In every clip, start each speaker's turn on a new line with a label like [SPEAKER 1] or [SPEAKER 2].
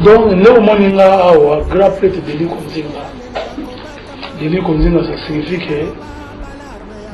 [SPEAKER 1] donc nde omoni nga awa grand prêtre deli konzinga deli konzinga ça signifie que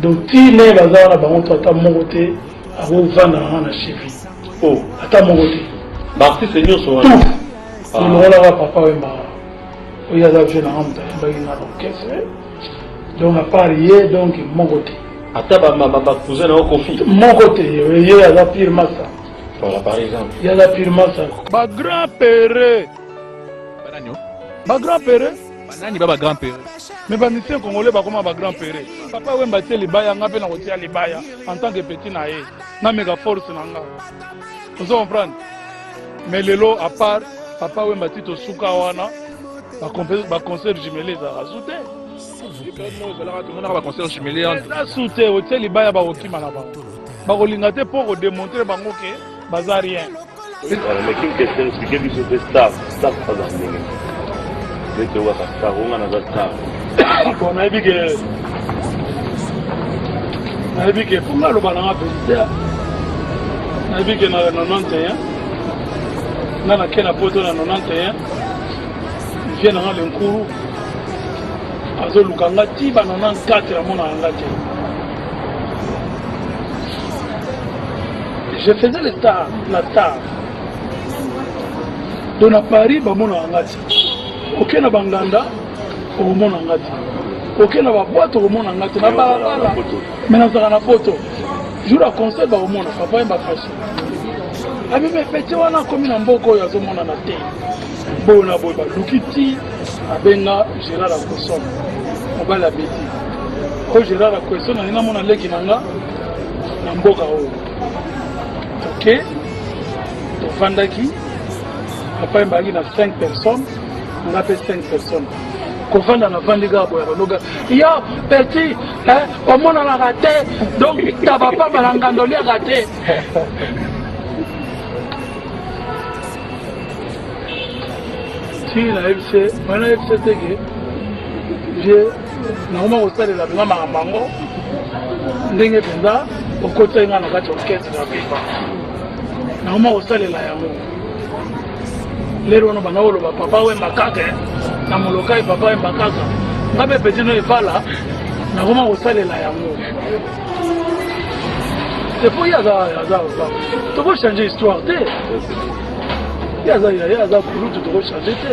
[SPEAKER 1] donc ti naye baza wana bango to ata moko te akovanda nanga na chevi o oh. ata
[SPEAKER 2] moko te
[SPEAKER 1] baartiste nyonso
[SPEAKER 2] wana ah.
[SPEAKER 1] olongolaka papa wemba oyo aza vie nanga moto ayembaki na orchestre donc à part ye donc moko te ata bamama
[SPEAKER 2] bacousin na yo kofi moko te
[SPEAKER 1] ye aza pire masa voilà par
[SPEAKER 2] exemple ye aza pire masa
[SPEAKER 1] bagrand pere bagrand pere banani ba bagrand
[SPEAKER 3] pere mais bamisien
[SPEAKER 1] congolais bakoma bagrand pere papa wemba tie libaya nga mpe nakotia libaya en tant que petit na ye nameka force na nga ozo comprendre mais lelo à part papa wemba tito suka wana baconcert jumele ezalaka su te ozalaka tomonaka
[SPEAKER 3] baconcert jumele eza su te
[SPEAKER 1] otie libaya bakokima na bango bakolinga te mpo kodemontre bango ke baza rien mais kin
[SPEAKER 2] question explique biso mpe staff staff aza ndenge
[SPEAKER 1] nayebi ke mpo nga aloba na nga verite nayebi ke na 91 nga nake na poto na 91 vie na nga lenkuru azoluka nga ti ba 94 amonaka nga te je faisais le tard la tard donc na paris bamonaka nga ti oke na banganda okomona nga te oke na babwate okomona nga te na balabala me nazalaka na poto jour ya concert bakomona papa ye bafasi abime pete wana akomi na mboka oyo azomonana te boyo na boye baluki ti abenga gérard akoson mobali abeti oyo gérard akoson alingi namona leki na nga na mboka oyo toke tofandaki papa ebaki na 5 personnes nga mpe 5 personnes kovanda na vandi kaka boya banoga yo petit eh, omonanaka te donc taba pamba na ngando liaka te ti nayebise mai nayebise te ke je nakoma kosalela mpenza makambo yango ndenge mpenza okotisaki ngai na kati ya orkestre ya pepa nakoma kosalela yango lelo wana bana oloba papa wemba kaka eh. na molokai papa wemba kaka nga mpe peti no evala nakoma kosalela yango epo ye aza aza aza tokochange histoire te ye aza ye aza kulutu tokochange te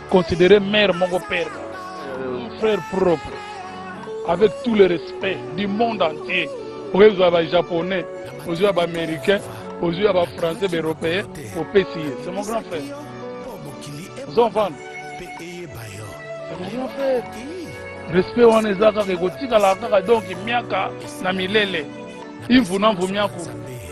[SPEAKER 1] Considérer mère moko père moko. Frère propre. Avec tout le respect du monde entier. Oyebi zwa ba japonais, ozwi ya ba américain, ozwi ya ba français, ba européen, opesi ye. C'est mon grand frère. Ozo comprendre? C'est mon grand frère. Respect wana eza kaka ekotikala kaka donc miaka na milele. Imvu na mvu miaku.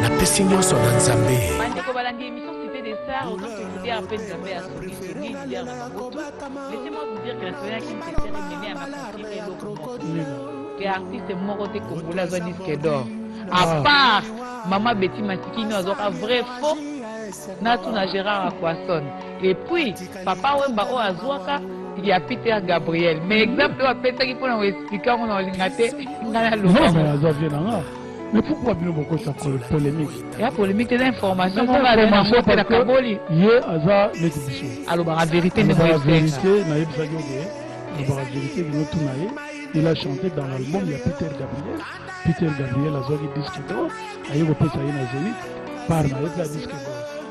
[SPEAKER 4] napesi nyonso na nzambe bandeko balandi emission
[SPEAKER 5] cité des stars oza solidaire mpe nzambe ya sokisoki ya maboto laissez-moi vous dire que la soya kintetere meme ya makonfirme eloko moko ke artiste moko te kongola azwa disque d'or à ah. part mama beti masikini azwaka vrai faux natuna gérard aquason Et puis, papa Wemba oyo azwaka ya Peter Gabriel. Mais exemple oyo apesaki mpona ko expliquer yango na olinga te ngai naloba. Non, mais azwa vie na nga.
[SPEAKER 1] Mais pourquoi bino bokota polemique? Ya polemique
[SPEAKER 5] te na information moko azali na ngo mpe na kaboli. Ye aza
[SPEAKER 1] neti biso. Alobaka verite
[SPEAKER 5] nde moyesenga. Alobaka verite nayebisaki
[SPEAKER 1] yo ke alobaka verite bino tuna ye. Il a chanté dans l'album ya Peter Gabriel. Peter Gabriel azwaki disque d'or aye kopesa ye na Zenith par na ye mpe ya disque d'or.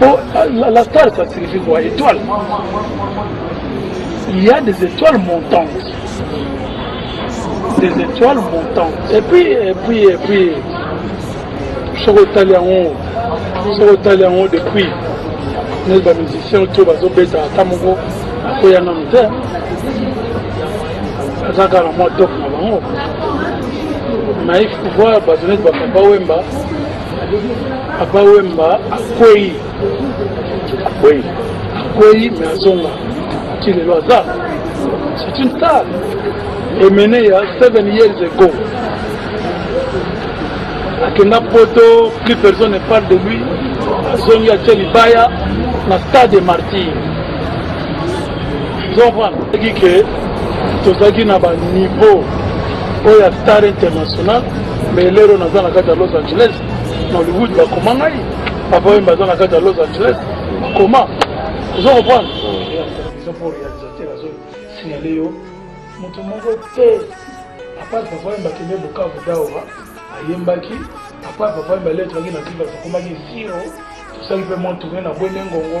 [SPEAKER 1] Bon, la, la star, ça signifie quoi Étoile. Il y a des étoiles montantes. Des étoiles montantes. Et puis, et puis, et puis, soki otali yango soki otali yango depuis neti bamusicien to bazobeta ata moko akoya nanu te aza kaka na mwa top na bango naif pouvoir bato neti bapapa wemba papa wemba akwei akwei akwei me azonga ti lelo aza c'est une star emene ya 7 years ago akenda poto plus personne ne parle de lui azongi atie libaya na stade de martyr zovandaki ke tozalaki na baniveau oyo ya star international mais lelo naza na kati ya los angeles na hollywood bakoma ngai papa oyo baza na kati ya los angeles bakoma ozo comprendre eza po réalisateur azo signale yo moto moko te apart papa oyo bakende bukavu dawa ayembaki apart papa oyo baletraki na tiba tokomaki zero tosali mpe mwa tourne na bwende ngongo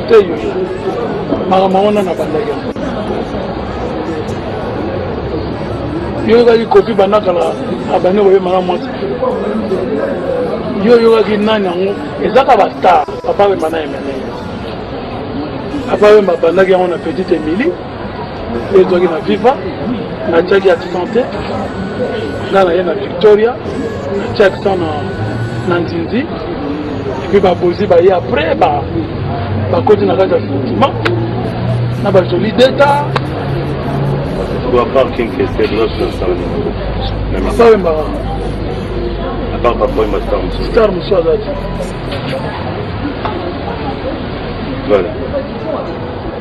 [SPEAKER 1] yo oyokaki kopi bandakala abane boye mala mwasi yo oyokaki nani yango ezaka bastar papa wemba na emene papa wemba abandaki yango na petite emili ezwaki na viva natiaki accent te nga naye na victoria natia accent na, na nzinzi epuis babozi baye après bakoti na kati ya sentiment na bajoli deta
[SPEAKER 2] bawembaka star mosusu aza te voilà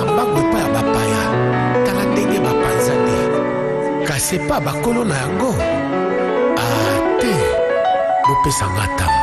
[SPEAKER 4] mbangu epai ya bapaya tala ndenge bapanzani kasi epai ya bakolo na yango ate ah, bopesa nga ntango